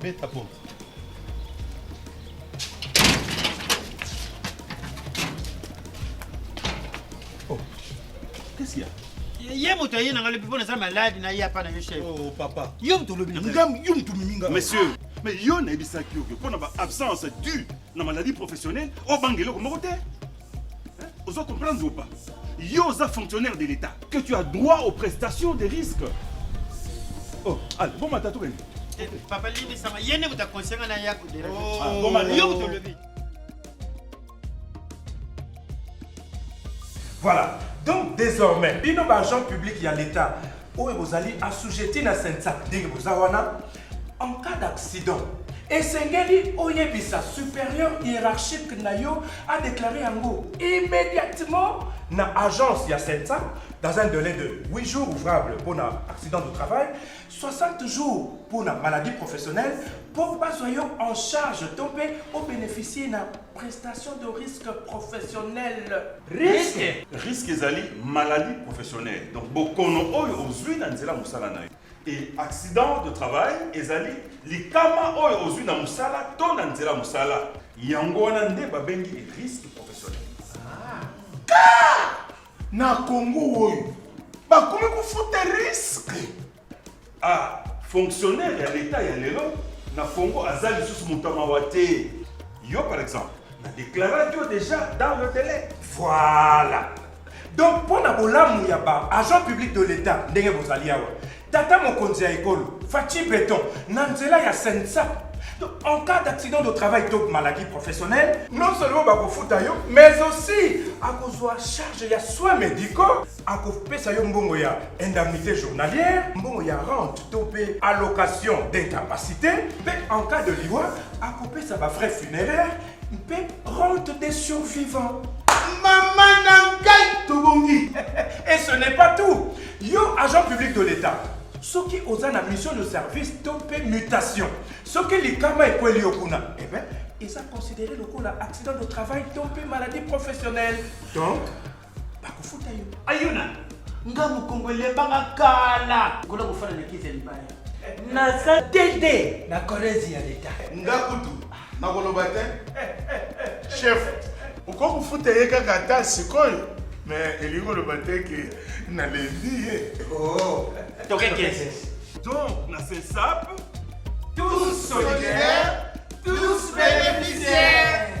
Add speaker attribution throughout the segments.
Speaker 1: Beta porte. Oh. Qu'est-ce qu'il y a? ye moto aye nanga lobi mpona eza maladi na ye apa na yo chef oh, papa yo moto olobi nangam yo moto omimi nga monsieur
Speaker 2: mais yo nayebisaki yo mpo na ba absence due na maladie professionnelle obanga eloko moko te Ozo comprendre ou pas? Yo oza fonctionnaire de l'État que tu as droit aux prestations de risque. Oh, allez, bon mata tout gagné. Eh, papa Lili
Speaker 3: sama yene kuta conseil na ya ko dera. Oh, ah, bon mata yo to
Speaker 2: lever.
Speaker 4: Voilà. Donc désormais, bino ba agents publics ya l'État oyo bozali assujetti na sensa ndenge boza wana en cas d'accident esengeli oyebisa supérieur hiérarchique na yo adeklare yango immédiatement na agence ya sensa dans un délai de 8 jours ouvrables mpo na accident de travail 60 jours mpo na maladie professionnelle mpo bazwa yo en charge to mpe obénéficie na prestation de risque professionnel Risque. Risque ezali
Speaker 2: maladie professionnelle. Donc bokono oyo ozui na nzela musala na yo. Et accident de travail ezali likama oyo ozui na musala to na nzela musala. Yango wana nde babengi risque professionnel. Ka!
Speaker 5: Na Congo oyo bakomi kofuta risque. Ah,
Speaker 2: fonctionnaire ya l'État ya lelo na Congo aza lisusu moto ya mawa te. Yo par exemple, na déclaraki yo déjà dans le délai. Voilà.
Speaker 4: Donc mpo na bolamu ya ba agent public de l'État ndenge bozali awa, tata mokonzi ya ekolo Fatshi Beton na nzela ya Sensa Donc, en cas d'accident de travail to maladie professionnelle, non seulement bakofuta yo, mais aussi akozwa charge ya soins médicaux akopesa yo mbongo ya indemnité journalière mbongo ya rente to mpe allocation d'incapacité mpe en cas de liwa akopesa bafrais funéraire mpe rente des survivants mama
Speaker 5: na ngai tobongi et ce n'est
Speaker 4: pas tout yo agent public de l'état soki oza na mission de service to mpe mutation soki likama ekweli yo kuna eh ben, eza considéré lokola accident de travail to mpe maladie professionnelle donc bakofuta yo ayo na
Speaker 3: nga mokongo elembanga kala kola kofana na kiti ya libaya naza
Speaker 6: tete na korezi ya leta nga kutu
Speaker 5: nakoloba te chef okoki kofuta ye kaka ata sikoyo me elingi koloba te ke nalembi ye oh. tokekese
Speaker 3: donc
Speaker 2: na sesape tous
Speaker 5: solidaires tous bénéficiaires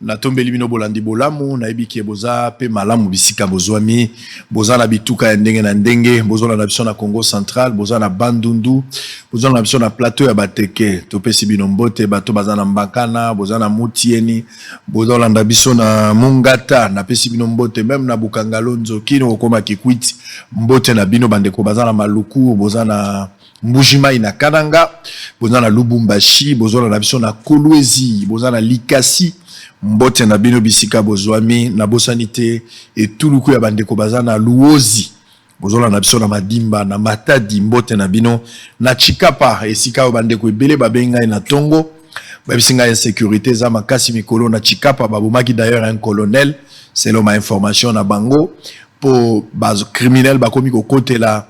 Speaker 1: Natombeli bino bolandi bolamu, nayebi ke boza pe malamu bisika bozwami, boza na bituka ya ndenge na ndenge, bozolanda biso na Congo central, boza na Bandundu, bozolanda biso na plateau ya Bateke, topesi bino mbote, bato baza na Mbakana, boza na Mutieni, bozolanda biso na Mungata, napesi bino mbote, meme na Bukangalonzo, kino kokoma Kikwit, mbote na bino bandeko, baza na Maluku, boza na. Mbuji Mayi na Kananga, boza na Lubumbashi, bozona na biso na Kolwezi, boza na Likasi, mbote na bino bisika bozwami, na bosani te etuluku ya bandeko baza na Luozi, bozona na biso na Madimba, na Matadi, mbote na bino, na Chikapa, esika oyo bandeko ebele babengi ngai na tongo, bayebisi ngai insecurite eza makasi mikolo na Chikapa, babomaki d'ailleurs un colonel, selon ma information na bango, po ba criminels bakomi kokotela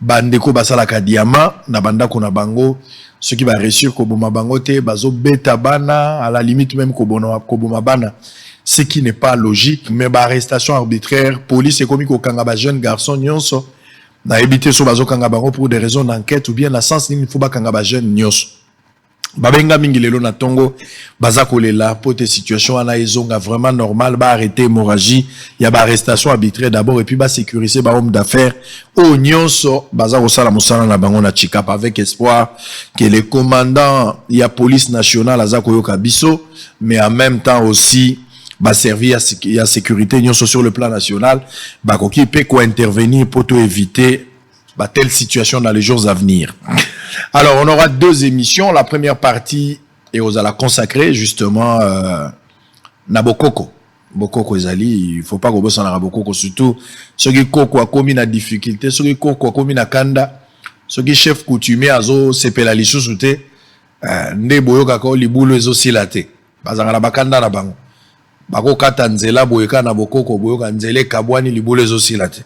Speaker 1: Ba ndeko basalaka diamant na ba ndako na bango soki ba reussir koboma bango te bazo beta bana à la limite meme kobona koboma bana ce qui n'est pas logique mais ba arrestation arbitraire police ekomi kokanga ba jeune garçon nyonso nayebi te so bazokanga bango pour des raisons d'enquête ou bien na sens nini faut bakanga ba jeune nyonso babenga mingi lelo na tongo baza kolela mpo te situation wana ezonga vraiment normal baarrete hémorragie ya baarrestation arbitraire d'abord epuis basécurise bahome d'affaires oyo nyonso baza kosala mosala na bango na chicap avec espoir que le commandant ya police nationale aza koyoka biso mais en même temps aussi baservi ya sécurité nyonso sur le plan national bakoki mpe kointervenir mpo to éviter Bah, telle situation dans les jours à venir. Alors, on aura deux émissions. La première partie, et vous allez consacrer justement euh, Nabokoko. Bokoko Ezali, il faut pas qu'on bosse en Arabokoko, surtout ceux qui koko a commis la difficulté, ceux qui koko a commis la kanda, ceux qui chef coutumier a zo sepela lisu soute, euh, nde boyo kako libulu ezo silate. Bazanga na bakanda na bango. Bako kata nzela boyeka na bokoko boyoka nzele kabwani libulu ezo silate.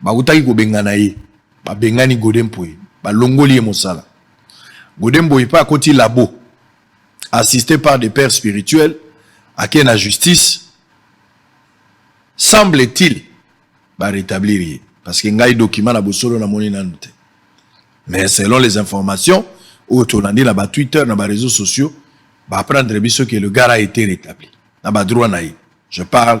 Speaker 1: Bakutaki kobengana ye, babengani Gode Mpoye, balongoli ye mosala. Gode Mpoye mpe akoti labo, assiste par des pères spirituels, ake na justice. Semble-t-il, ba retablir ye. Parce que ngai document na bosolo na moni nanu te. Mais selon les informations, oyo tolandi na ba Twitter, na ba réseaux sociaux, ba apprendre biso que le gars a été rétabli. Na ba droit na ye. Je parle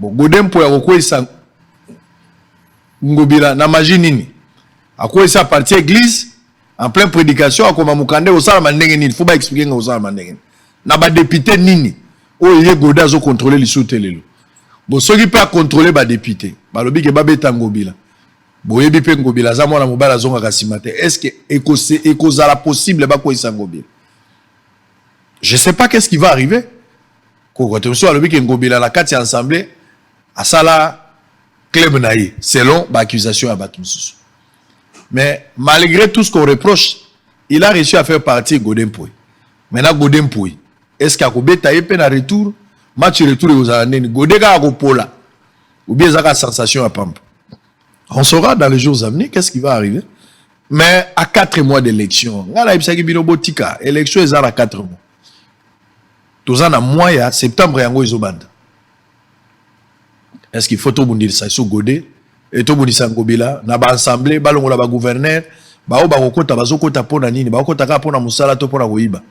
Speaker 1: Bon, Gode mpo ya kokweyisa Ngobila na magie nini? Akweyisa a partir église en plein prédication akoma mokanda ekosalama ndenge nini? Faut ba expliquer nga kosalama ndenge nini? Na ba député nini oyo ye Gode azo contrôler lisusu te lelo? Bon, soki mpe akontrole ba député balobi ke babeta Ngobila boyebi mpe Ngobila aza mwana mobali azongaka nsima te. Est-ce que ekozala possible bakweyisa Ngobila? Je sais pas qu'est-ce qui va arriver. Koko te mosusu alobi ke Ngobila na kati ya ensemble asala club na ye selon ba accusation ya bato mosusu mais malgré tout ce qu'on reproche il a réussi à faire partie Godin Poi maintenant Godin Poi est ce que akobeta ye mpe na retour match retour ekozala ndeni Godin kaka kopola ou bien ezaka sensation ya pamba on saura dans les jours à venir qu'est ce qui va arriver mais à 4 mois d'élection ngai nayebisaki bino botika élection eza na 4 mois toza na mois ya septembre yango ezobanda est ce qu'il faut tobundisa lisusu gode e tobundisa ngobila na baassemble balongola bagouverneur baoyo bakokota bazokota mpo na nini bakokota kaka mpo na mosala to mpo na koyiba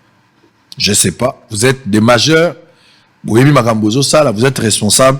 Speaker 1: je sais pas vous êtes des majeurs boyebi makambo bozosala vous êtes responsable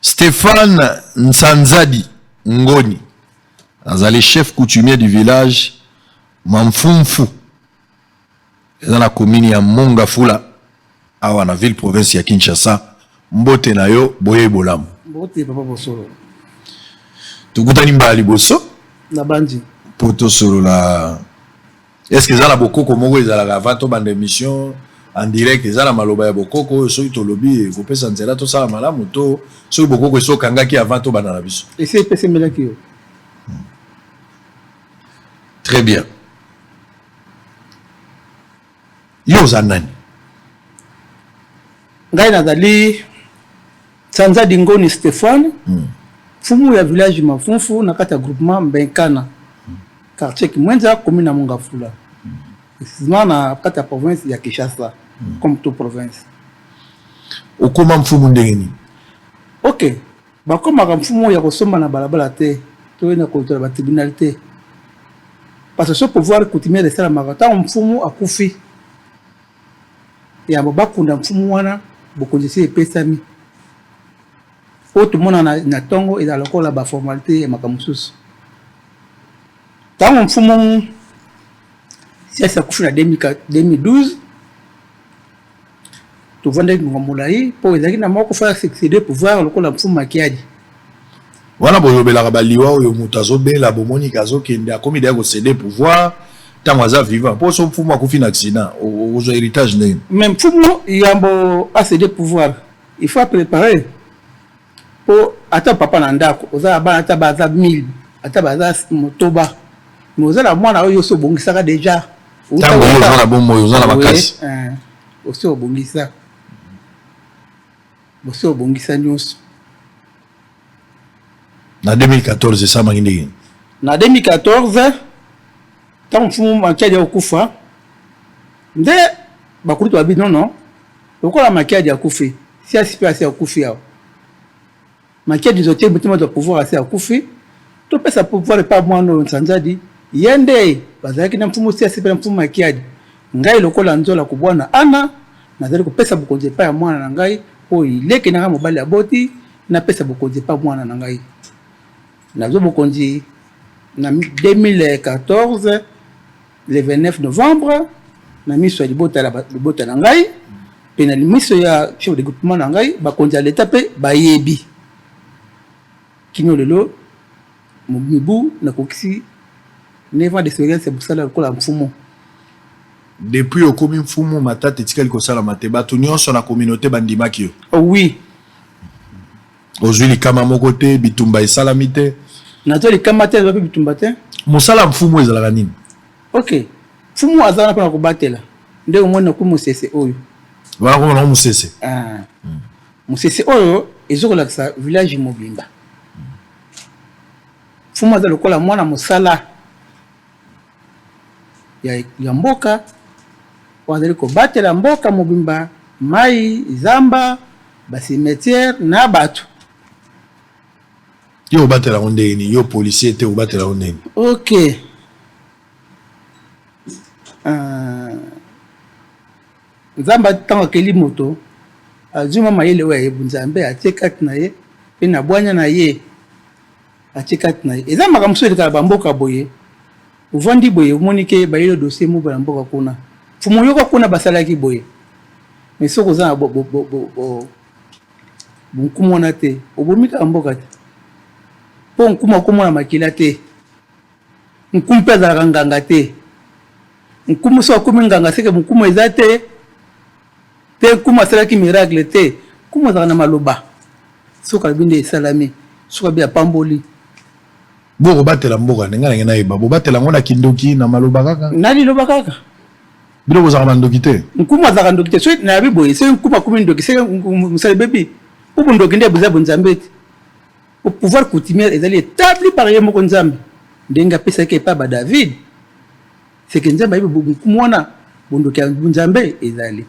Speaker 1: Stéphane Nsanzadi Ngoni azali chef coutumier du village Mamfumfu eza na commune ya Mongafula awa na ville province ya Kinshasa. Mbote na yo boye bolamu. Mbote papa Bosolo. Tukutani mbala liboso. Na bandi.
Speaker 7: Po tosolola
Speaker 1: est ce que eza na bokoko moko ezalaka avant tobanda émission en direct eza na maloba ya bokoko oyo soki tolobi ekopesa nzela tosala malamu to soki bokoko esi okangaki avant tobanda na biso esi epesemelaki
Speaker 7: yo
Speaker 1: très bien yo oza nani
Speaker 7: ngai nazali Sanza Dingoni Stephane, mm. fumu ya village Mafunfu na kati ya groupement Mbenkana, mm. quartier Kimwenza, commune ya Mongafula. Mm. Effectivement na kati ya province ya Kinshasa, mm. comme tout province.
Speaker 1: Okoma mfumu ndenge nini? Okay.
Speaker 7: bakomaka mfumu oyo ya kosomba na balabala te to na kotola batribunal te parce que ce pouvoir coutumier esalamaka ntango mfumu akufi Yambo bakunda mfumu wana, bokonzi esi epesami. Oyo tomona na, na ntongo ezala lokola baformalite ya makambo mosusu. Ntango mfumu siasi akufi na 2012 tovandaki ngonga molai mpo ezalaki na moko fa succede pouvoir lokola mfumu makiadi
Speaker 1: Wana bolobelaka ba liwa oyo mutu azobela bomoni ke azokende akomi deja ko cede pouvoir tango aza vivant po so mfumu akufi na accident okozwa heritage ndenge mais mfumu
Speaker 7: yambo a cede pouvoir il faut a preparer po ata papa na ndako oza na bana ata baza 1000 ata baza motoba mais oza na mwana oyo osi obongisaka deja tango oyo oza
Speaker 1: na bomoi oza na makasi osi
Speaker 7: obongisa Boso obongisa nyonso.
Speaker 1: Na 2014 esalamaki ndenge nini? Na 2014
Speaker 7: ntango mfumu Makiadi akokufa nde bakulutu babi nono lokola Makiadi akufi siasi mpe asi akufi awa Makiadi zote motema za pouvoir asi akufi topesa pouvoir epa mwana oyo nsanzadi ye nde bazalaki na mfumu siasi mpe na mfumu makiadi ngai lokola nzola kobwana ana nazali kopesa bokonzi epai ya mwana na ngai oyo ileki na ngai mobali aboti napesa bokonzi epai mwana na ngai nazwa bokonzi na 2014 le 29 novembre na miso ya libota la libota na ngai mpe na miso ya chef de groupement na ngai bakonzi ya leta mpe bayebi kino lelo mibu nakokisi 9 ans d'expérience ya mosala lokola mfumu
Speaker 1: depuis okomi mfumu matata etikali kosalama te bato nyonso na communauté bandimaki yo oh, oui Ozwi likama moko te, bitumba esalami te. Nazwa likama
Speaker 7: te, nazwa mpe bitumba te. Mosala ya mfumu
Speaker 1: ezalaka nini? Ok,
Speaker 7: mfumu azalaka mpona kobatela nde omoni nakomi mosese oyo wana komona ngo
Speaker 1: mosese ah. hmm.
Speaker 7: mosese oyo ezo kolakisa village mobimba mfumu aza lokola mwana mosala ya, ya mboka oyo azali kobatela mboka mobimba, mai, zamba, basimetiere na bato.
Speaker 1: Yo obatela yango ndenge nini? Yo policier te, obatela yango ndenge nini? Ok. Uh,
Speaker 7: nzambe ntango akeli moto azwi mwa mayele oyo ayebu nzambe atie kati na ye mpe na bwanya na ye atie kati na ye eza makambo mosusu elekaka bamboka boye ovandi boye omoni ke bayelo dossier moko na mboka kuna fumo yoko kuna basalaki boye mais soki oza na bonkumu wana te obomi kaka mboka te mpo nkuma okomona makila te nkumu mpe azalaka nganga te nkumu soki akomi nganga seke mokumu eza te te nkumu asalaki miracle te nkumu azalaka na maloba soki alobi nde esalami soki abi apamboli
Speaker 1: bokobatela mboka ndenge nange nayeba bobatela yango na kindoki na maloba kaka na liloba kaka
Speaker 7: bino bozalaka
Speaker 1: bandoki te nkumu azalaka ndoki te soki
Speaker 7: nayabi boye soki nkumu akomi ndoki soki mosali bebi mpo bondoki nde boza bonzambe te po pouvoir coutumière ezali etabli par ye moko nzambe ndenge apesaki epai ba david seke nzambe ayebi bokumu wana bondoki ya nzambe ezali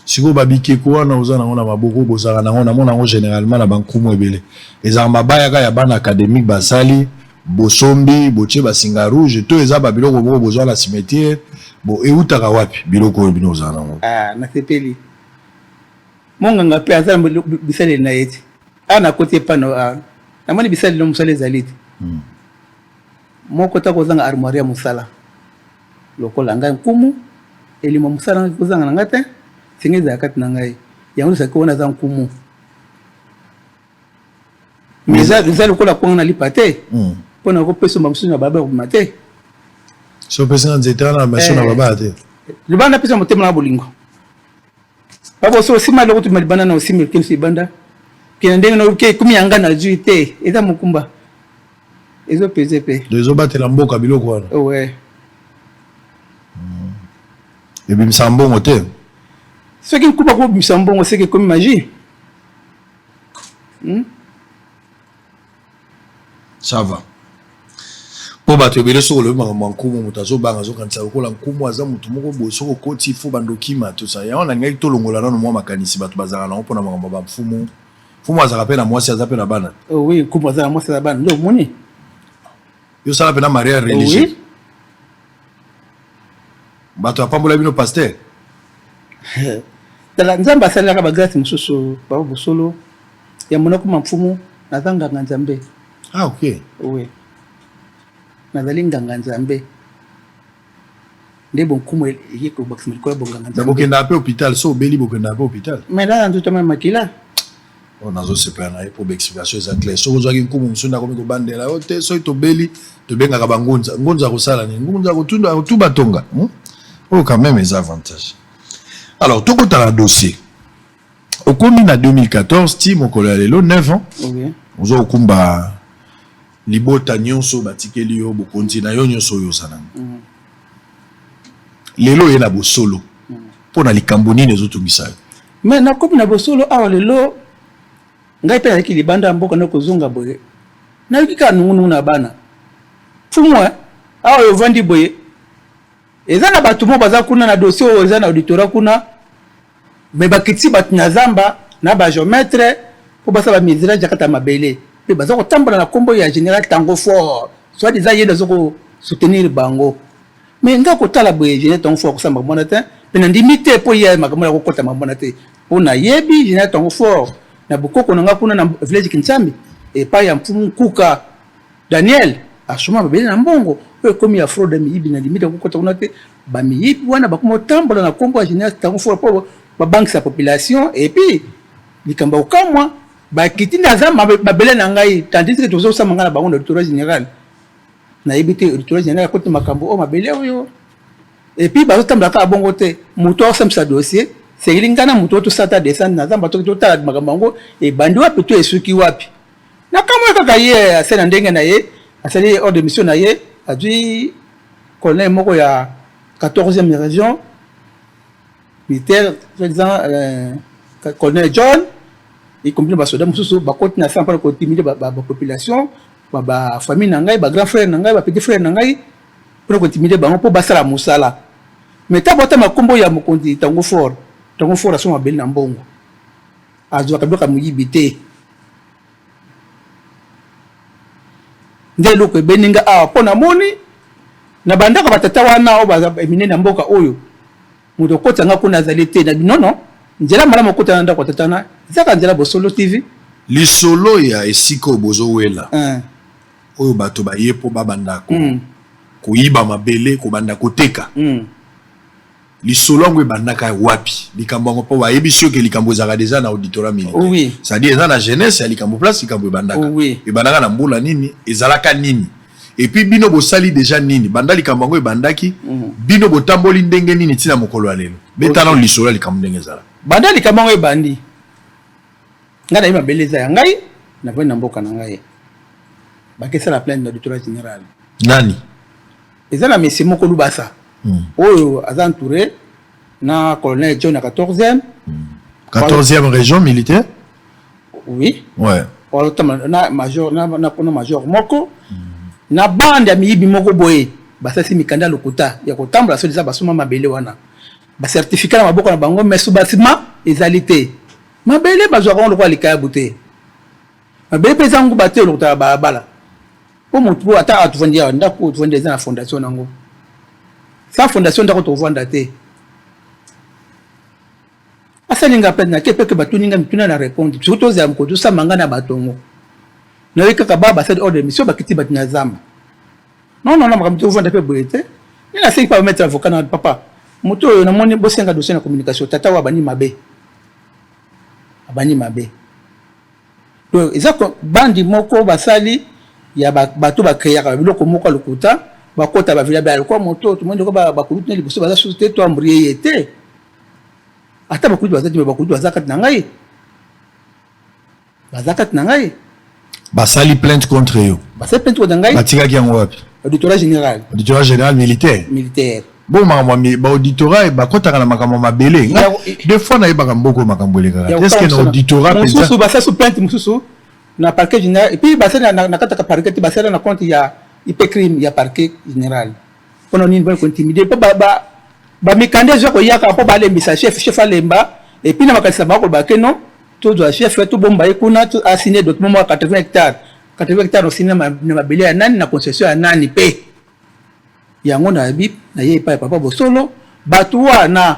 Speaker 7: sikoyo babikeko
Speaker 1: wana oza nango na maboko bozalaka nango namona yango généralement na bankumu ebele ezalaka mabayaka ya bana académique basali bosombi botie basinga rouge to eza babiloko moko bozwa na cimetière bo eutaka wapi biloko oyo bino ozala nango ah, nasepeli
Speaker 7: monganga mpe aza na bisaleli na ye te awa nakoti epano ah, namoni bisaleli na mosala ezali te hmm. Moko ta kozanga armoire ya mosala lokola ngai nkumu elimo mosala ngai kozanga na ngai te senge ezala kati na ngai yango lisaki wana aza nkumu mais eza lokola kwanga na lipa te hmm. mpo na kopesa mamosusu na baba kobima te
Speaker 1: so opesi na nzete wana maso na eh. baba te libanda napesa motema
Speaker 7: na bolingo bakoso osima eloko tuma libanda na osima elokeli so libanda kena ndenge na oke ekomi yanga na zwi te eza mokumba ezopeze mpe ezobatela mboka
Speaker 1: biloko wana owe
Speaker 7: hmm.
Speaker 1: ebimisa mbongo te soki
Speaker 7: nkuba kobimisa mbongo seke ekomi magie hmm?
Speaker 1: sava mpo bato ebele soki olobi makambo ya nkumu moto azobanga azokanisa lokola nkumu aza moto moko boye soki okoti fo bandokima tosa yango nalingaki tolongola nano mwa makanisi bato bazalaka nango mpona makambo ya bamfumu mfumu azalaka mpe na mwasi aza mpe na bana oh oui nkumu aza na mwasi
Speaker 7: aza bana nde omoni
Speaker 1: yo sala mpe na maria religieux oui. bato apambola bino paster
Speaker 7: tala nzambe asalelaka bagrâce mosusu bao bosolo ya monoko ma mfumu naza nganga nzambe ah, okay.
Speaker 1: oui.
Speaker 7: nazali nganga nzambe nde bonkumu eye kobakisama likolo ya bonganga nzambe bokendaka mpe hôpital so
Speaker 1: obeli bokendaka mpe hôpital mais nana nzoto ma
Speaker 7: makila oyo
Speaker 1: nazosepela na ye mpo baexplication eza clair soki ozwaki nkumu mosusu nde akomi kobandela yo te soki tobeli tobengaka bangunza ngunza akosala nini ngunza akotuba tonga hmm? oyo quand même eza avantage alors tokota na dossier okomi na 2014 ti mokolo ya lelo 9 ans ozo okumba Libota nionso batikeli yo bokonzi na yo nionso oyo oza nango. Mm. Lelo oye na bosolo mm. mpo na likambo nini ezotungisa yo? Mais nakomi na
Speaker 7: bosolo awa lelo ngai mpe naleki libanda ya mboka na kozonga boye nayoki kaka nungunungu na bana fumwa awa ovandi boye eza na bato moko baza kuna na dossier oyo eza na auditorat kuna me bakiti bato na zamba na bageometre mpo basala bamesirage ya kata mabele mpe baza kotambola na nkombo ya général tango fort soit disant ye nde aza kosoutenir bango me nga kotala boye général tango fort akosala makambo wana te mpe nandimi te mpo ye makambo ya kokota makambo wana te mpo nayebi général tango fort na bokoko na nga kuna na village kinsambi epai ya mfumu nkuka Daniel asoma babele na mbongo oyo ekomi ya fraude ya miyibi na limite kokota kuna te bamiyibi wana bakoma otambola na nkombo ya général tango fora mpo babangisa population epuis likambo ya kokamwa bakiti nde aza mabele na ngai tandisike tozosama ngai na bango na auditorat général nayebi te auditorat général akoti makambo oyo mabele oyo epuis bazotambola kaka bongo te moto akosambisa dossier sengeli ngai na moto oyo tosala ta descendre na zamba toki totala makambo yango ebandi wapi to esuki wapi nakamwe kaka ye ase na ndenge na ye asali ordre de mission na ye azwi colonel moko ya 14e région militaire soit disant euh, colonel john ekomi na basoda mosusu bakoti na sala mpona kotimide bapopulation bafamille na ngai bagrand frère na ngai bapetit frère na ngai mpona kotimide bango mpo basala mosala mais ntango batama nkombo ya mokonzi tango fort tango fort asoma mabele na mbongo Azwaka biloko ya moyibi te. Nde eloko ebeni nga awa mpo namoni na bandako ya batata wana oyo baza minene ya mboka oyo moto okota nga kuna azali te na binono nzela malamu okota na ndako ya tata wana ezaka nzela bosolo tv lisolo
Speaker 1: ya esika oyo bozowela eh. oyo bato baye mpo babanda ko, mm. koyiba mabele kobanda koteka mm. lisolo yango ebandaka wapi likambo yango mpo bayebisi yo ke likambo ezalaka deja na auditorat oh militaire oui. cestadire eza na jeunesse ya likambo place likambo ebandaka oh oui. ebandaka na mbula nini ezalaka nini epuis bino bosali deja nini banda likambo yango ebandaki mm -hmm. bino botamboli ndenge nini ntina mokolo ya lelo betana okay. lisolo ya likambo ndenge ezalaka banda likambo yango ebandi
Speaker 7: ngai nayebi mabele eza ya ngai navandi na mboka na ngai bakesala plaine na auditorat général nani
Speaker 1: eza
Speaker 7: na mesi moko lubasa mm. oyo aza entouré na colonel john ya 14e mm. 14e région militaire
Speaker 1: oui ouais. na
Speaker 7: major na, na, na major moko mm. na bande ya miyibi moko boye basalisi mikanda ya lokuta ya kotambola soki eza basuma mabele wana bacertificat na maboko na bango mais sous basima ezali te mabele bazwaka yango lokola likayabu te mabe mpeza nguba te olokota ya balabala mpo motu oyo ata atuvandi awa ndako oyo tuvandi eza na fondation nango sa fondation ndako tovanda te asalinga mpe nake mpe ke batuni nga mituna na répondre soki tozala mokolo tosamba nga na bato yango nayoki kaka ba basali ordre de mission bakiti bato na zamba non non non makambo tovanda mpe boye te ni nasengi mpe bametre avocat na papa moto oyo namoni bosenga dossier na communication tata oyo abandi mabe abandi mabe Donc eza bandi moko basali ya bato ba créaka biloko moko ya lokuta bakota ba village alikuwa moto tomoni ndeko bakulutu na liboso baza susu te to ambrie ye te ata bakulutu baza te me bakulutu baza kati na ngai baza kati na ngai
Speaker 1: basali plainte contre yo basali plainte contre ngai
Speaker 7: batikaki yango wapi
Speaker 1: auditorat général
Speaker 7: auditorat général militaire militaire Bon makambo mi
Speaker 1: ba auditorat bakotaka na makambo ya mabele nga deux fois nayebaka mboko makambo elekaka est-ce que na auditorat penza mosusu basasu plainte
Speaker 7: mosusu na parquet général et puis basali na kataka parquet te basala na compte ya ipe crime ya parquet général mpona nini bani kointimide mpo bamikanda eza koyaka mpo balembisa chef chef alemba et puis na makanisa bango koloba ke non tozwa chef tobomba ye kuna asigne document mwa 80 hectare 80 hectare osine na mabele ya nani na concession ya nani mpe Yango na yebi na ye epai ya papa bosolo bato wana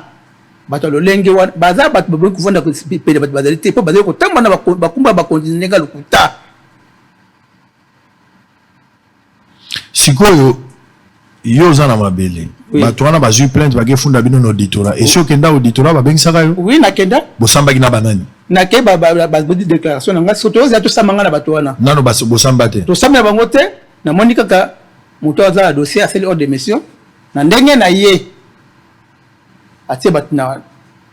Speaker 7: bato ya lolenge wana baza bato baboki kovanda pene bato bazali te mpo bazali kotambola na bakumba ya bakonzi na ndenge ya lokuta
Speaker 1: sikoyo yo oza na mabele oui. bato wana bazwi plainte bakefunda bino na auditora esi okenda auditora babengisaka yo oui nakenda bosambaki
Speaker 7: na banani
Speaker 1: nake
Speaker 7: bazodi déclaration na ngai soki toyoza tosamba ngai na bato wana nano bosamba te
Speaker 1: tosamba na bango te
Speaker 7: namoni kaka Moto aza na dossier asali ordre de mission na ndenge na ye atie bato na,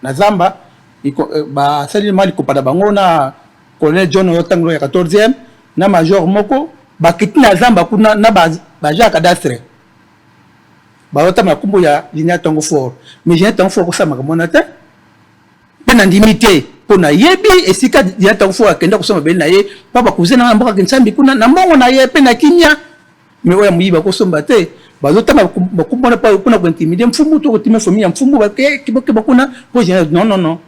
Speaker 7: na zamba eh, basali mali kopata bango na colonel John oyo ntango ya 14e na major moko bakiti na zamba kuna na baja ya cadastre baotama na nkombo ya linia ntango fort mais linia ntango fort kosalamaka mwana te mpe nandimi te mpo nayebi esika ya ntango fo akenda kosala mabele na ye mpa bakuze na ngai na mboka kinsambi kuna na mbongo na ye mpe na kimia me oyo ya moyibi akosomba te bazotanga bakumu wana mpona kointimide mfumu to kotima famille ya mfumu bakeba kuna mpo non non non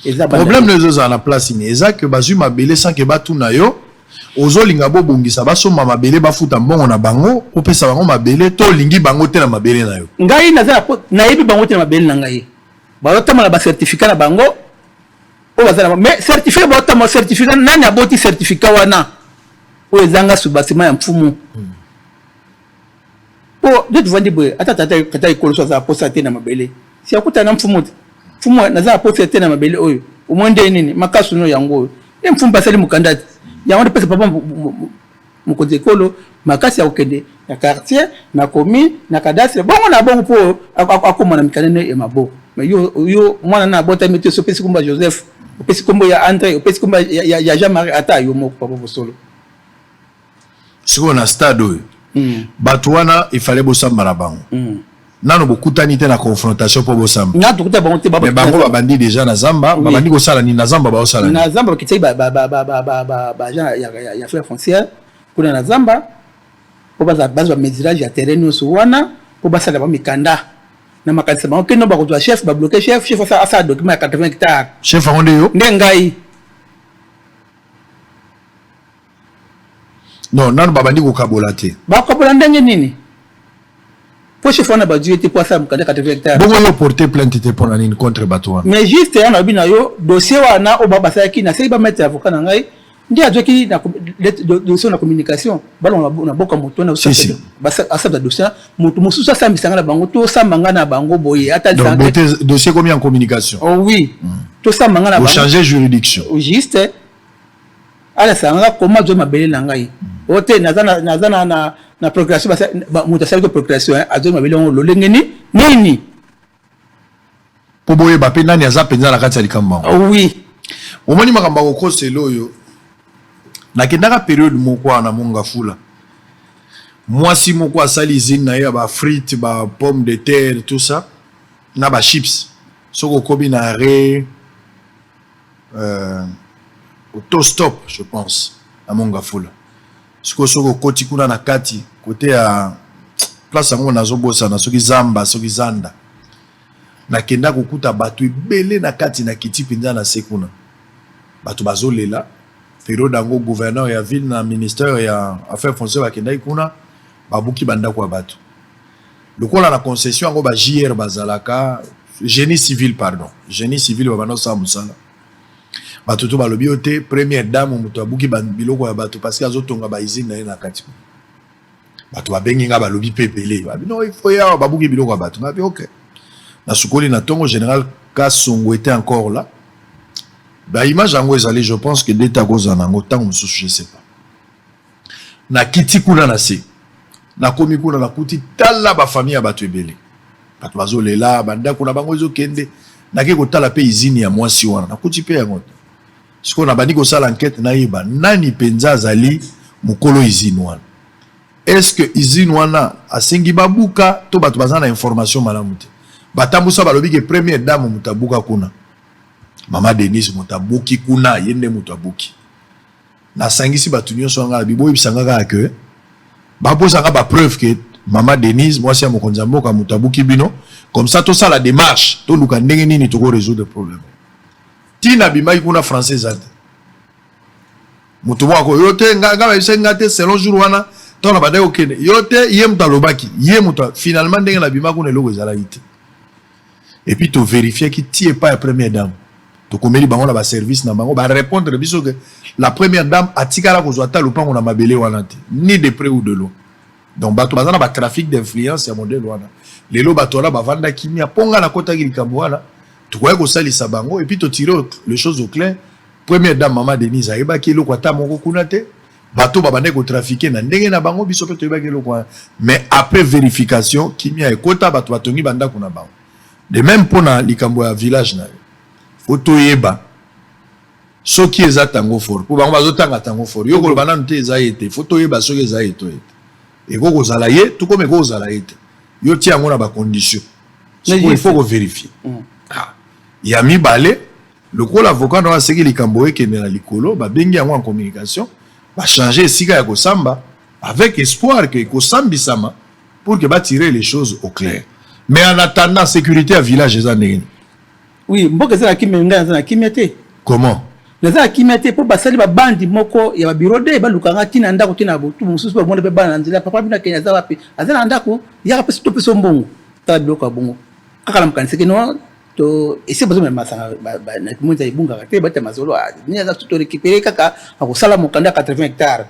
Speaker 7: eza
Speaker 1: problème no ezozala na place ni eza ke bazwi mabele sans ke batuna yo ozolinga bobongisa basomba mabele bafuta mbongo na bango opesa bango mabele to olingi bango te na mabele na yo ngai naza
Speaker 7: nayebi bango te na mabele na ngai bazotambola ba certificat na bango oyo baza nango mais certificat bazotambola certificat nani aboti certificat wana oyo ezanga subasima ya mfumu po hmm. nde tovandi boye ata tata ekoloso aza aposa te na mabele si akutana na mfumu te mfumu naza aposa te na mabele oyo omoi nde nini makasuno yango oyo nde mfumu basali mokanda te yango nde pesa papa Mokonzi ya ekolo makasi ya kokende na quartier, na commune, na cadastre, bongo na bongo mpo akoma na mikanda ya maboko. Mais yo, yo mwana na abotami te, sopesi kombo ya Joseph, opesi kombo ya Andre, opesi kombo ya Jean-Marie, ata yo moko papa bosolo.
Speaker 1: Sikoyo na stade oyo, hmm. bato wana ifale bosamba na bango. Hmm. nano bokutani te na confrontation mpo bosamba na tokuta bango te mais
Speaker 7: bango babandi déjà
Speaker 1: na zamba babandi kosala nini na zamba baosala na zamba bakitisaki
Speaker 7: baagent ya frais foncière kuna na zamba mpo bazwa bamesurage ya terrain nyonso wana mpo basala ba mikanda na makanisa bango kino bakozwa chef babloke chef chef asala document ya 80 hectare chef yango nde yo nde
Speaker 1: ngai non nanu babandi kokabola te bakokabola ndenge nini
Speaker 7: po chef wana badu ye te po asala mokanda 80 hectare bongo yo porte plainte
Speaker 1: te mpona nini contre bato wana mais juste ya nalobi na yo
Speaker 7: dossier wana oyo ba basalaki naseki bamaitre avocat na ngai nde azwaki dossier na communication balonga na boka moto wana asala dossier moto mosusu asambisa ngai na bango tosamba ngai na bango boye ata dossier
Speaker 1: komi en communication oh oui hmm.
Speaker 7: tosamba ngai na bango changer juridiction
Speaker 1: juste
Speaker 7: Alex anga koma zwa mabele na ngai o te naza na, naza na, na, na procuration moto asali ko procuration eh, azwaki mabele yango lolenge ni nini
Speaker 1: mpo boyeba mpe nani aza mpenza na kati ya likambo yango ah oui
Speaker 7: omoni makambo
Speaker 1: ya kokosela oyo nakendaka periode moko wana mongafula mwasi moko asali izine na ye ya bafrite ba pomme de terre tout ça na bachips soki okomi na re euh, auto stop je pense na mongafula sikoyo soki okoti kuna na kati kote ya place yango nazobosana soki zamba soki zanda nakenda kokuta bato ebele na kati na kiti mpenza na se kuna bato bazolela periode yango gouverneur ya ville na ministère ya affaire foncière bakendaki kuna babuki bandako ya bato lokola na concession yango ba JR bazalaka génie civil pardon génie civil babanda kosala mosala bato to balobi yo te première dame moto abuki biloko ya bato parce que azotonga baizine na ye na kati bato babengi ngai balobi mpe ebele babino ifo ye awa babuki biloko ya bato ngabi ok nasukoli na ntongo général kasongo ete encore la baimage yango ezali je pense que deta kozala na yango ntango mosusu je sais pas nakiti kuna na se nakomi kuna nakuti tala bafamille ya bato ebele bato bazolela bandako na bango ezokende nake kotala mpe izini ya mwasi wana nakuti mpe yango te sikoyo nabandi kosala ankete nayeba nani mpenza azali mokolo izini wana estce que izini wana asengi babuka to bato baza na information malamu te batambusa balobi ke première dame moto abuka kuna mama denise moto abuki kuna ye nde moto abuki nasangisi bato nyonso ya ngai na biboyebisa ngai kaka ke baposa ngai bapreuve ke mama denise mwasi ya mokonzi ya mboka moto abuki bino comme ça tosala démarche toluka ndenge nini toko résoudre problème ntina abimaki kuna français eza te moto moko akoyo te ngai bayebisaki ngai te selon jour wana ntango na bandaki kokende yo te ye moto alobaki ye moto finalement ndenge nabimaki kuna eloko ezalaki te et puis to verifier ki ti epai ya première dame tokomeli bango na ba service na bango ba répondre biso que la première dame atikala kozwa ata lopango na mabele wana te ni de près ou de loin donc bato baza na ba trafic d'influence ya modèle wana lelo bato wana bavanda kimia mpo ngai nakotaki likambo wana tokoki kosalisa bango et puis totire les choses au clair première dame mama denise ayebaki eloko ata moko kuna te bato babandaki kotrafike na ndenge na bango biso mpe toyebaki eloko wana mais après verification kimia ekota bato batongi bandako na bango de même mpo na likambo ya village na yo fo toyeba soki eza tango fort mpo bango bazotanga tango fort yo koloba nanu te eza ye te fo toyeba soki eza ye to ye te ekoki kozala ye to koma ekoki kozala ye te yo tia yango na bacondition sikoyo il faut koverifie mm. ah. ya mibale Lokola avocat na yo aseki likambo ekende na likolo, babengi yango en communication, ba changer esika ya kosamba avec espoir que ekosambisama pour que ba tirer les choses au clair. Mais en attendant, securite ya village eza ndenge nini? Oui, mboka
Speaker 7: eza na kimia, ngai naza na kimia te. Comment?
Speaker 1: naza na kimia
Speaker 7: te mpo basali babandi moko ya babiro de baluka nga ntina ndako ntina botu mosusu bamona mpe bana na nzela papa bino akende aza wapi aza na ndako yaka mpe sito mpe so mbongo tala biloko ya bongo kaka na mokanisaki no to ese bazo mema masanga na kimonza ebungaka te bata mazolo ah, ni aza to récupérer kaka akosala mokanda 80 hectares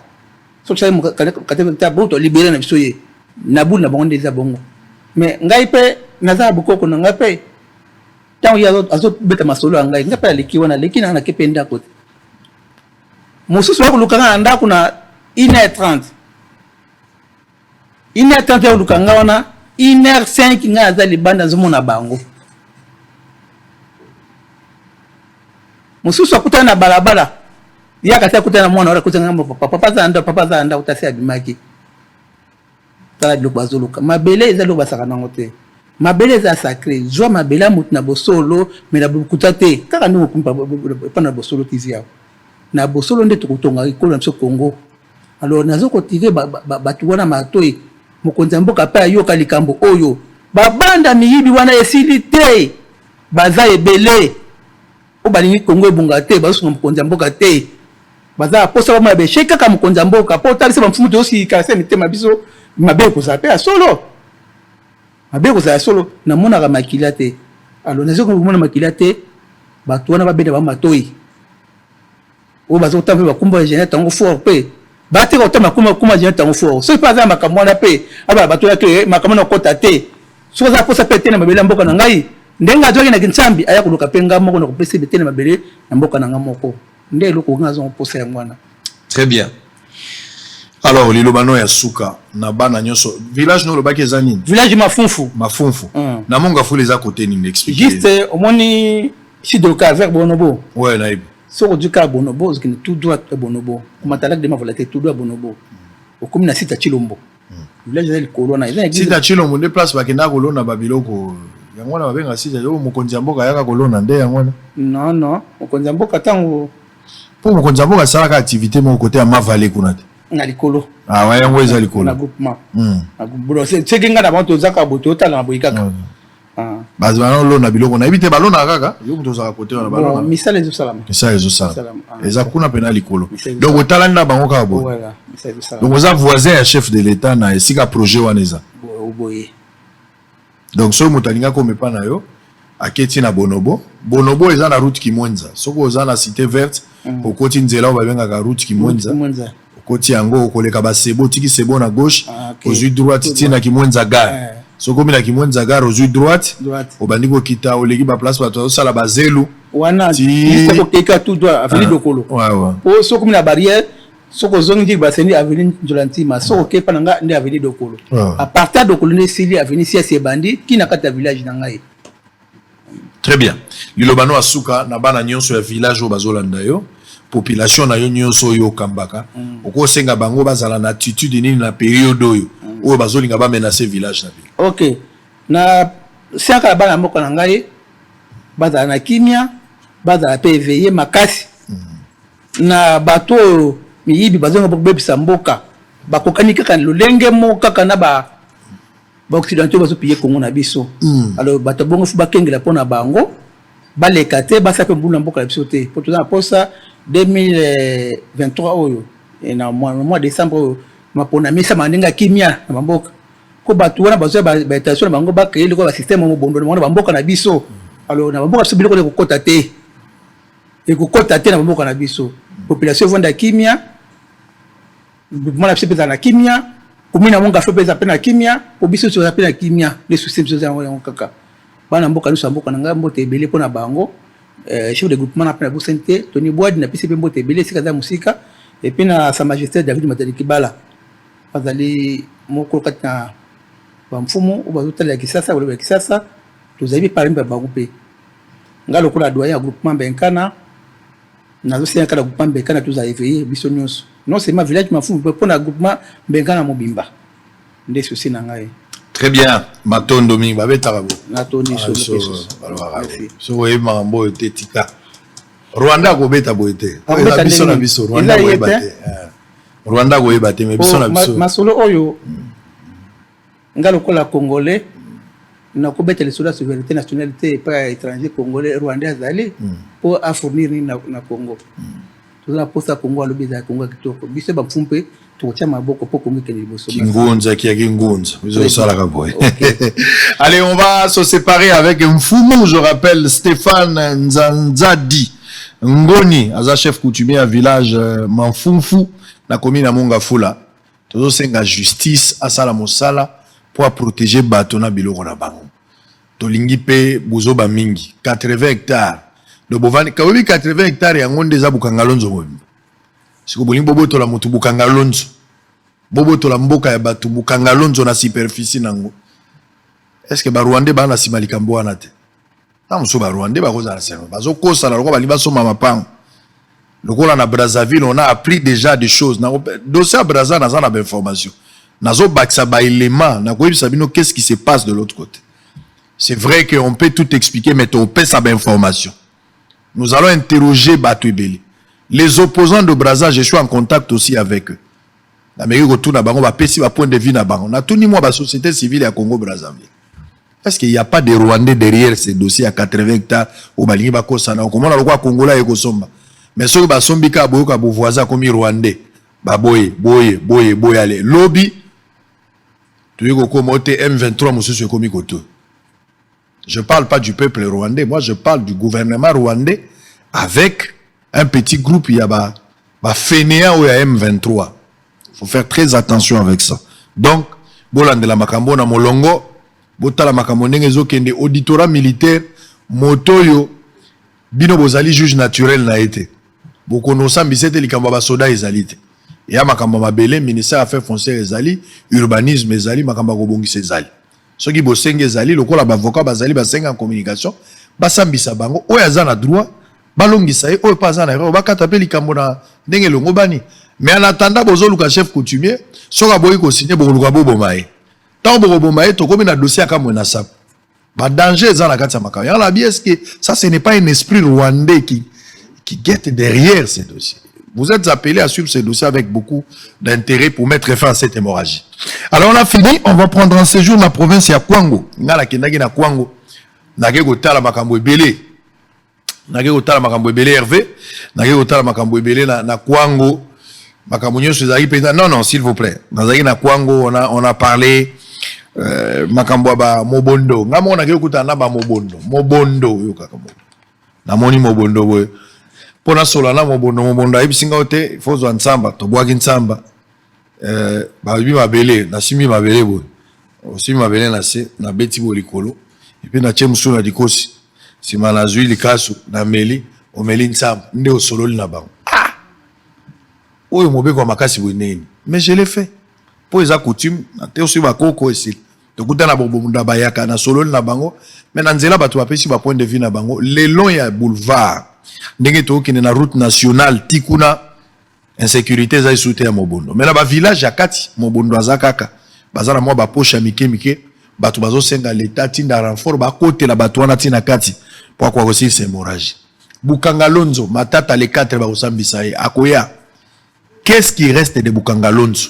Speaker 7: soki sala mokanda 80 hectares bo to libérer na biso ye na boule na bango nde eza bongo mais ngai mpe naza bokoko na ngai mpe ntango ye azobeta masolo ya ngai ngai mpe aleki wana aleki na nake mpe ndako te mosusu bakoluka ngai na ndako na 1 heure 30 une heure 30 ya oluka nga wana une heure 5 nga naza libanda nazomona bango mosusu akutana na balabala ye akasi akutana na mwana wana akutana ngambo papa papa aza na ndako papa aza na ndako tasi abimaki tala biloko bazoluka mabele eza eloko basaka nango te mabele eza sacré zwa mabele ya moto na bosolo me na bokuta te kaka ndenge okumpa epa na bosolo tv yao na bosolo nde tokotonga ekolo na biso congo Alors nazo kotire bato wana matoi, mokonzi ya mboka mpe ayoka likambo oyo. Babanda miyibi wana esili te, baza ebele oyo balingi Kongo ebonga te, bazosunga mokonzi ya mboka te, baza na posa bamona besheki kaka mokonzi ya mboka. Mpo otalisa bamfumu tozosilika se mitema biso, mabe ekozala mpe ya solo, mabe ekozala ya solo. Namonaka makila te, alors nazo komona makila te, bato wana babenda bango matoi. oyo baza kotanga mpe bakumba ya jeanette yango fort mpe bateka kota makuma makuma ya jeanette yango fort soki mpe aza na makambo wana mpe abala bato yaki eh, makambo na kokota te soki aza kosa mpe te na mabele ya mboka na ngai ndenge azwaki na kinsambi aya koluka mpe ngai moko na kopesa ebe te na mabele na mboka na ngai moko nde eloko ngai azwa koposa yango wana très bien
Speaker 1: alors liloba no ya suka na bana nyonso village no olobaki eza nini village mafunfu
Speaker 7: mafunfu mm. na
Speaker 1: monga fula eza kote nini explique juste omoni
Speaker 7: sud de calvaire bonobo ouais nayebi soko
Speaker 1: ozwi kaka bonobo
Speaker 7: ozokende tout droit ya bonobo komata lac de mavola te tout droit ya bonobo hmm. okomi na site ya chilombo hmm. village eza likolo wana eza site ya chilombo nde
Speaker 1: place bakendaka kolona babiloko yango wana babengaka site oyo mokonzi ya mboka ayaka kolona nde yango wana non non
Speaker 7: mokonzi ya mboka ntango mpo mokonzi ya
Speaker 1: mboka asalaka activité moko kote ya mavale kuna te na likolo
Speaker 7: awa ah, yango eza
Speaker 1: likolo na groupement
Speaker 7: hmm.
Speaker 1: soki
Speaker 7: ngai na bango tozaka
Speaker 1: boye
Speaker 7: toyotalana boye kaka
Speaker 1: Ah. bato bana olona biloko nayebi te balonaka kaka yo moto ozalaka kote wana balona misala ezosalama misala
Speaker 7: ezosalama
Speaker 1: ah. eza kuna mpe na likolo donc otalani na bango kaka boye donc
Speaker 7: oza voisin ya chef de
Speaker 1: l'état na esika projet wana eza boye donc soki moto alinga komepa na yo aketi na bonobo bonobo eza na route kimwenza soki oza na cité verte mm. okoti nzela oyo babengaka route kimwenza okoti yango okoleka basebo otiki sebo na gauche ah, okay. ozwi droite ti na kimwenza gare eh. so okomi na kimwenza gare ozwi droite obandi kokita oleki baplace bato bazosala bazelu wana
Speaker 7: kokeka tout droit aveni ah, dokolo po so okomi na barrière soki ozongi ndiki basendi aveni nzola ntima soki okei mpa na ngai nde aveni dokolo ah. apartir dokolo nde esili aveni siasi ebandi kina kati ya village na ngai
Speaker 1: Très bien. Liloba no asuka na bana nyonso ya village oyo bazolanda yo population na yo nyonso oyo okambaka mm. okosenga bango bazala na attitude nini na periode oyo mm. oyo bazolinga bamenace village na bino ok na
Speaker 7: siaka ya bana mboka na ngai bazala na kimia bazala mpe eveye makasi mm. na bato oyo miyibi bazonga kobebisa mboka bakokani kaka lolenge moko kaka na ba ba occidentaux bazo piller Congo na biso mm. alors bato bongo faut bakengela pona bango baleka te basala pe mbulu na mboka na biso te po toza na posa 2023 oyo eh, na mois décembre oyo mapona mesama ndenge ya kimia na bamboka ko bato wana bazwa baintention na bango bakreye loko basysteme mobondo na bango na bamboka na biso alors na bamboka biso biloko na ekokota te ekokota te na bamboka na biso population evanda kimia Mouvement na biso mpe ezala na kimia, komina yango Ngafo mpe eza mpe na kimia, mpo biso nyonso toza mpe na kimia. Nde souci na biso eza yango yango kaka. Bana mboka nyonso ya mboka na ngai mbote ebele mpo na bango. Eh, chef de groupement na mpe nabosani te, Tony Bwadi napesi mpe mbote ebele esika aza mosika, epuis na Sa Majesté David Matadi Kibala azali moko kati na bamfumu oyo bazotalela Kisasa, balobi ya Kisasa, tozali mpe parmi ba bango mpe. Ngai lokola doyen ya groupement Benkana, Nazo senga kala groupement Mbekana tozala eveiller biso nyonso. Non seulement village Mafumu mais mpo na groupement Mbekana mobimba. Nde souci na ngai. Très bien.
Speaker 1: Matondo mingi babetaka bo. Natondi ah, solo pesos. Soki oyebi makambo oyo te tika. Rwanda akobeta boye te. Akobeta biso na biso Rwanda akoyeba te. Eh. Rwanda akoyeba te mais biso oh, na biso. Masolo oyo hmm.
Speaker 7: nga lokola congolais nakobeta lisolo ya souveraineté nationale te epai ya étranger congolais rwandais azali mpo hmm. afournir nini na congo hmm. toza na posa congo alobi ezala congo ya kitoko biso bamfu mpe tokotya maboko mpo congo ekende liboso kingunza kia
Speaker 1: kingunza ezosalaka boye allez on va se séparer avec mfumu je rappelle stéphane nzanzadi ngoni aza chef coutumier ya village euh, manfumfu na commune ya mongafula Tozo senga justice asala mosala po a proteger bato na biloko na bango. Tolingi pe buzoba mingi. 80 hectares donc bovandi kawebi 80 hectares yango nde eza Bukangalonzo mobimba. Siko bolingi bobotola moto Bukangalonzo, bobotola mboka ya bato Bukangalonzo na superficie nango. Est-ce que ba Rwandais ba na sima likambo wana te? ntango mosusu barwandais bakozala seno bazokosana lokola balingi basomba mapango lokola na brazzaville on a appris déjà des choses dossier ya brazza naza na bainformation nazobakisa baelema nakoyebisa bino qu'est ce qui se passe de l'autre côté c'est vrai que on peut tout expliquer mais topesa bainformation nous allons interroger bato ebele les opposants de brazza je suis en contact aussi avec eux Nameki kotuna bango bapesi ba point de vue na bango. Natuni mwa ba societe civile ya Congo Brazzaville. Est-ce qu'il n'y a pas de Rwandais derrière ce dossier ya 80 hectares oyo balingi bakosana? Okomona lokola Kongola ye kosomba. Mais soki basombi kaka boyoka bo voisin akomi Rwandais. Baboye, boye, boye, boye ale. Lobi toyei kokoma oyo te M23 mosusu ekomi koto. Je parle pas du peuple rwandais, moi je parle du gouvernement rwandais avec un petit groupe ya ba ba fainéants oyo ya M23. Faut faire très attention avec ça. Donc bolandela makambo na molongo, botala makambo ndenge ezokende auditorat militaire moto oyo bino bozali juge naturel na ye te bokonosambisa ete likambo ya basoda ezali te ya makambo ya mabele ministère ya affaires foncière ezali urbanisme ezali makambo ya kobongisa ezali Soki bosengi ezali lokola bavoka bazali basengi ya communication, basambisa bango. Oyo aza na droit balongisa ye, oyo mpe aza na erreur bakata mpe likambo na ndenge elongobani. Mais en attendant bozoluka chef coutumier, soki aboyi kosigne bokoluka boboma ye. Ntango bokoboma ye, tokomi na dossier ya Kamwe na Sapu. Ba danger eza na kati ya makambo yango. Nabi eske ça ce n'est pas un esprit rwandais qui qui guettent derrière ces dossiers. Vous êtes appelés à suivre ces dossiers avec beaucoup d'intérêt pour mettre fin à cette hémorragie. Alors on a fini, on va prendre un séjour dans la province ya Kwango. Ngala kendaki na Kwango. Nake kotala makambo ebele. Nake kotala makambo ebele Hervé. Nake kotala makambo ebele na, na Kwango. Makambo nyoso ezali peza. Non non, s'il vous plaît. Nazaki na Kwango, on a on a parlé euh, makambo ba mobondo. Ngamo nake kutana ba mobondo. Mobondo yo kaka mobondo. namoni mobondo boye mpo nasola na mobondo mobondo ayebisi ngai te ifo ozwa nsamba tobwaki nsamba eh, babi mabele nasimbi mabele boye osimbi mabele na se nabeti boye likolo epe natye mosusu na likosi nsima nazwi likasu nameli omeli nsamba nde osololi na bango ah! oyo mobeko ya makasi boye ndenge nini mais je le fais mpo eza coutume te oswi bakoko esili tokuta na bobunda bayaka na sololi na bango me na nzela bato bapesi bapoint de vue na bango le long ya boulevard ndenge tokokende na route nationale ti kuna insécurité eza esu te ya mobondo me na bavillage ya kati mobondo aza kaka baza na mwa baposhe ya mike mike bato bazosenga leta tinda renfort bakotela bato wana ti na kati mpo akoka kosilisa hémorragie bukangalonzo matata le 4 bakosambisa ye akoya qu'est ce qui reste de bukangalonzo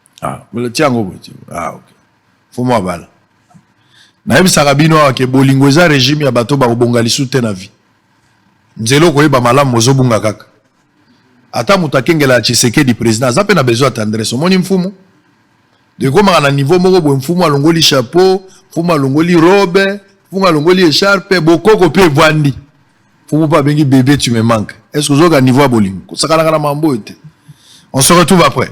Speaker 1: Ah, tia yango boye ah, okay. fumu abala nayebisaka bino awa ke bolingo eza regime ya bato bakobonga lisu te na vie nzela okoyeba malamu ozobunga kaka ata moto akengela ya tshisekedi président aza mpe na besoin ya tendresse omoni mfumu ekomaka na niveau moko boye mfumu alongoli chapeau mfumu alongoli robe mfumu alongoli echarpe bokoko mpe evandi mfumu mpe abengi bebe tu me manque est ce que ozoyoka niveau ya bolingo kosakanaka na mambo oyo te on se retrouve après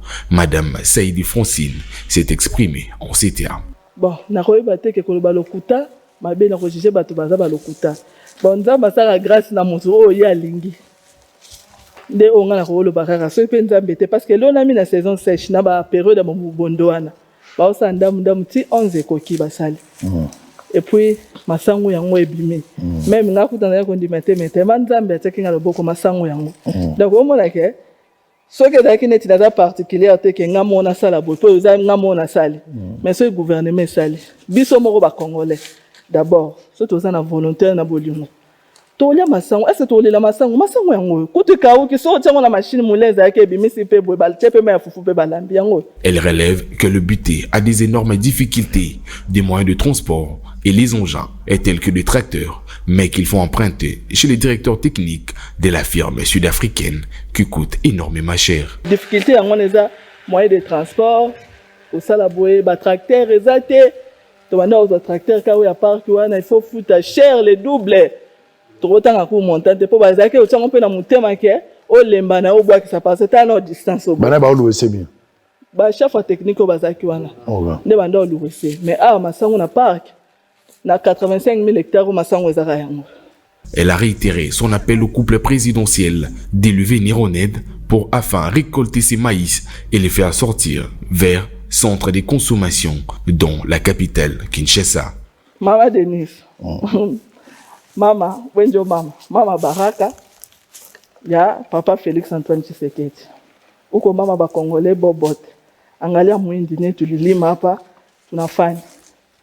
Speaker 8: Madame Saidi Francine s'est exprimée en ces termes. Bon, nakoyeba
Speaker 9: te ke koloba lokuta mabe na kojuge bato baza balokuta. Bon, Nzambe asala grace na moto oyo ye alingi nde oyo ngai nakoloba kaka soki mpe Nzambe te parce que elonami na saison sèche na ba periode ya bondo wana baosala ndambu ndambu ti 11 ekoki basali mm. et puis masangu yango ebimi mm. meme ngai kuta naye kondima te mais tellement Nzambe atiaki ngai loboko masangu yango mm. donc omona ke soki ezalaki neti naza particulière te ke nga moko nasala boye mpo eza nga moko nasali mm. mais soki gouvernement esali biso moko bacongolais d'abord soki toza na volontaire na bolingo tolia masango ese tolela masango masango yango oyo kutu ekauki soki otia yango na mashine molai ezalaki ebimisi mpe boye batie mpe mai ya fufu mpe balambi yango oyo elle relève que
Speaker 8: le bute a des énormes difficultés des moyens de transport et les engins et tels que des tracteurs, mais qu'ils font emprunter chez les directeurs techniques de la firme sud-africaine qui coûte énormément cher. Difficulté yango wana eza
Speaker 9: moyen de transport kosala boye batracteur eza te tobanda kozwa tracteur kaka oyo ya parki wana il faut futa cher le double tokotanga ku montant te mpo bazalaki otya yango mpe na motema ke olemba na yo obwakisa parce ata na distance obana baoluwese bien
Speaker 1: bachef ya
Speaker 9: technique oyo bazalaki wana nde banda oluwese mais awa masango na parke Na 85000 hectares oyo masango ezaka yango. Elle a
Speaker 8: réitéré son appel au couple présidentiel d'élever Nironed pour afin récolter ses maïs et les faire sortir vers centre de consommation dans la capitale Kinshasa. Mama Denise,
Speaker 9: mm. mama Wenjo mama, mama Baraka, ya papa Felix Antoine Tshisekedi. Uko mama ba Congolais bobote. Angalia muindi ne tulilima hapa tunafanya.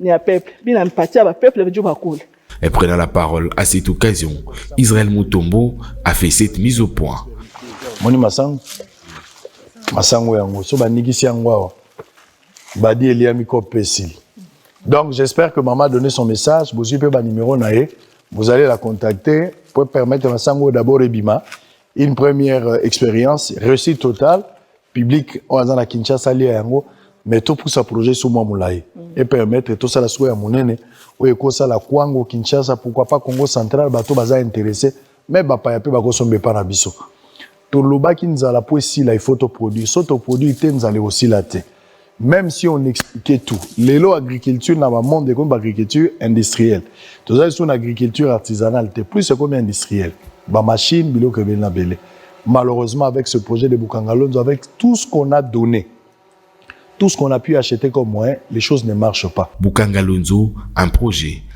Speaker 9: ni ya peuple bina mpatia ba peuple biju bakule Et prenant la
Speaker 8: parole à cette occasion, Israël Mutombo a fait cette mise au point. Moni masango
Speaker 1: masango yango so banikisi yango awa badi eliami kope esili donc j'espère que maman a donné son message bozwi mpe banimero na ye vous allez la contacter pour permettre masango d'abord ebima une première euh, expérience réussite totale public oyo aza na Kinshasa alia yango mais topusa projet so mwa molai mm. e permettre tosala sikoyo ya monene oyo ekosala kwango Kinshasa pourquoi pas Congo central bato baza interesse me bapaya mpe bakosomba epa na biso tolobaki nzala mpo esila ifo toproduire so toproduire te nzala ekosila te Meme si on expliquait tout, lelo agriculture na ba monde ekomi ba agriculture industrielle. Toza lisusu na agriculture artisanale te, plus ekomi industrielle. Ba machines, biloko ebele na bele. Malheureusement, avec ce projet de Bukangalonzo, avec tout ce qu'on a donné, tout ce qu'on a pu acheter comme moyen, les choses ne marchent pas. Bukangalonzo,
Speaker 8: un projet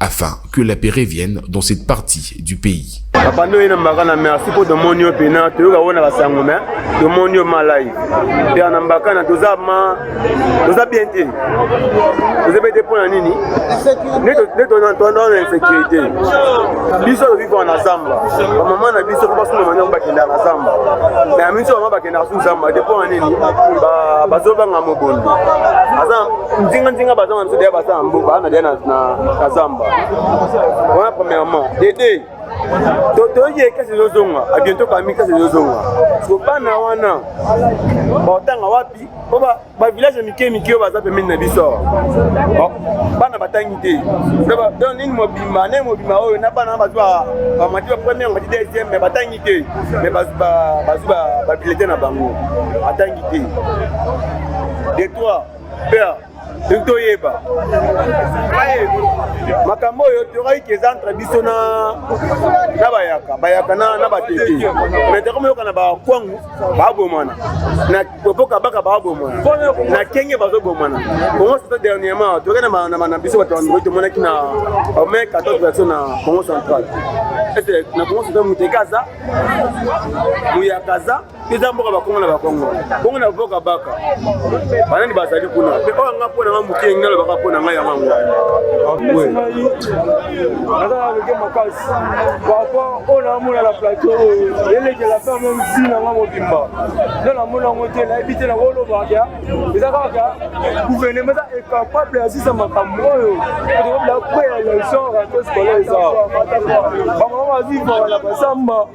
Speaker 8: afin que la paix revienne dans cette partie du pays. bapanda oyo enambaka na
Speaker 10: merci mpo tomoni yo mpena toyoka oyo na basango me tomoni yo malai mpe na mbakana toza ma toza bien te toza bien te mpo na nini nde toza na insécurité biso tozivaka na zamba bamama na biso mpo basuna mania bakendaka na zamba me ya minso bama bakendaka su zamba te mpo na nini bazobanga mobondo aza nzinganzinga baza Sodia baza na mboka na dia na kazamba wana premièrement dede totoyiki ekasi ezozonga abiento kami kasi ezozonga so bana wana baotanga wapi po bavillage ya mike mike oyo baza pembeni na biso oh, bana batangi te don nini mobimba nde mobimba oyo na bana bazwa bamati ba première mati deuxième mais batangi te mais bazwi babilete na bango batangi te de trois père toki toyeba makambo oyo toyokaki ke eza entre biso na na bayaka bayaka na, na batete mais toko moyokana bakwangu babomana na popo kabaka babomana na kenge bazobomana congo soto dernièrement toyokaki na biso bato bandoi tomonaki na mai 14 version na congo central na congo soto muteka aza muyaka aza eza mboka bakongo na bakongo bongo na boka baka banani bazali kuna mpe oyo anga mpo na nga moke engi nalobaka mpo na ngai yango yango naza na loke makasi papa oyo namona na plateau oyo elekela mpe yango msi na nga mobimba nde namona yango te nayebi te nango olobaka eza kaka gouvernement eza incapable ya sisa makambo oyo tokobila kweya ya genre ya tosikola eza bango bazivaka na basamba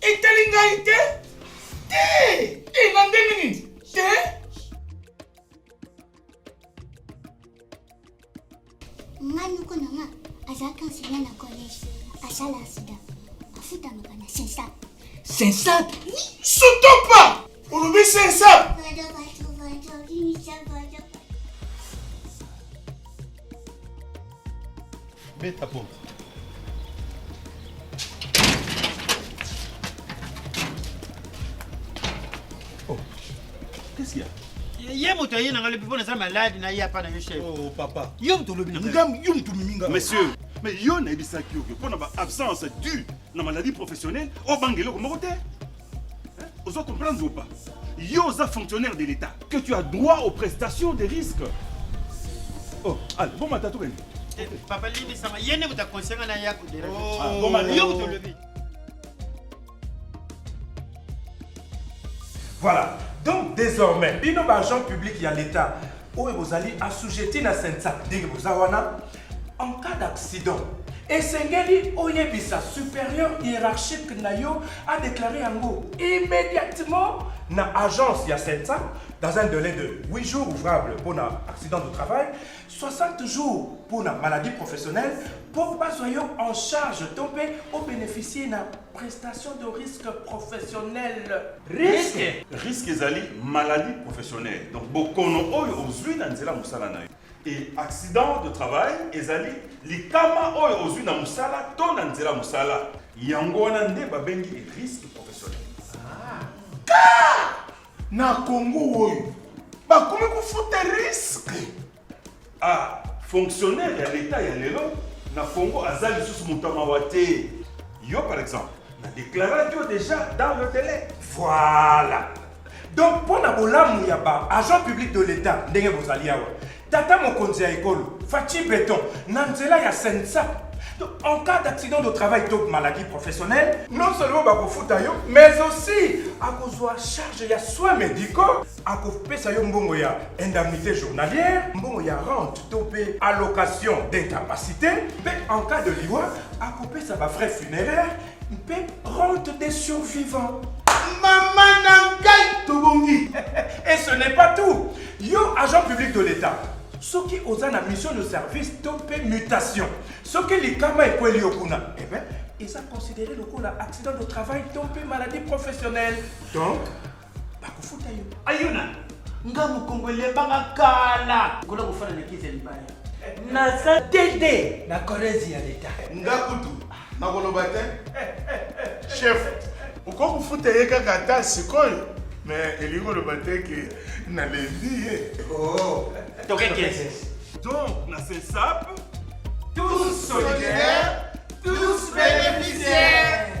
Speaker 6: Etali ngai
Speaker 5: te. Te. E na ndenge nini? Te.
Speaker 11: Nga noko na nga azalaki enseignant na collège. Asala sida. Afutamaka na Sensat. Sensat?
Speaker 6: Sotopa!
Speaker 5: Olobi se sa.
Speaker 1: Beta porte.
Speaker 2: Oh. Qu'est-ce qu'il y a? ye moto aye na ngai lobi mpo naza maladi na
Speaker 3: ye apa na yo chef oh, papa yo moto olobi na ngai yo moto
Speaker 2: omimi ngai monsieur mais yo nayebisaki yo mpo na ba absence due na maladie professionnelle obanga eloko moko te Ozo comprendre ou pas? Yo oza fonctionnaire de l'État que tu as droit aux prestations de risque. Oh, allez, bon matin tout bene. Eh, papa Lili
Speaker 3: sama yene kuta konsenga na yako de. Oh, ah, bon matin. Yo kuta lebi.
Speaker 4: Voilà. Donc désormais, bino ba agent public ya l'État oyo bozali assujetti na sensa ndenge boza wana En cas d'accident, esengeli oyebisa supérieur hiérarchique na yo a déclarer yango immédiatement na agence ya CENSA dans un délai de 8 jours ouvrables pour un accident de travail, 60 jours pour une maladie professionnelle, pour pas en charge tomber ou bénéficier d'une prestation de risque professionnel. Risque
Speaker 2: Risque ezali maladie professionnelle. Donc bokono oyo ozui na nzela musala na Et accident de travail ezali likama oyo ozwi na mosala to na nzela mosala. Yango wana nde babengi risque professionnel. Car
Speaker 5: na Congo oyo bakomi kofuta risque. Ah,
Speaker 2: fonctionnaire ya leta ya lelo na Congo aza lisusu moto ya mawa te. Yo par exemple, na deklaraki yo deja dans le délai. Voilà.
Speaker 4: donc mpo na bolamu ya ba agent public de l'etat ndenge bozali awa tata mokonzi ya ekolo faci beton na nzela ya sensa Donc, en cas d'accident de travail to maladie professionnelle non seulement bakofuta yo mais aussi akozwa charge ya soins médicaux akopesa yo mbongo ya indemnité journalière mbongo ya rente to mpe allocation d'incapacité mpe en cas de liwa akopesa bafrais funéraire mpe rente des survivants mama
Speaker 5: na ngai tobongi et ce n'est
Speaker 4: pas tout yo agent public de l'état soki oza na mission de service to mpe mutation soki likama ekweli yo kuna eh ben, eza considéré lokola accident de travail to mpe maladie professionnelle donc bakofuta yo ayo na
Speaker 3: nga mokongo elembanga kala kola kofana na kiti ya libaya naza
Speaker 6: tete na korezi ya leta nga kutu
Speaker 5: nakoloba te chef okoki kofuta ye kaka ata sikoyo me elingi koloba te ke nalembi ye oh. tokekese
Speaker 3: donc
Speaker 2: na sesape tous
Speaker 3: solidaires tous bénéficiaires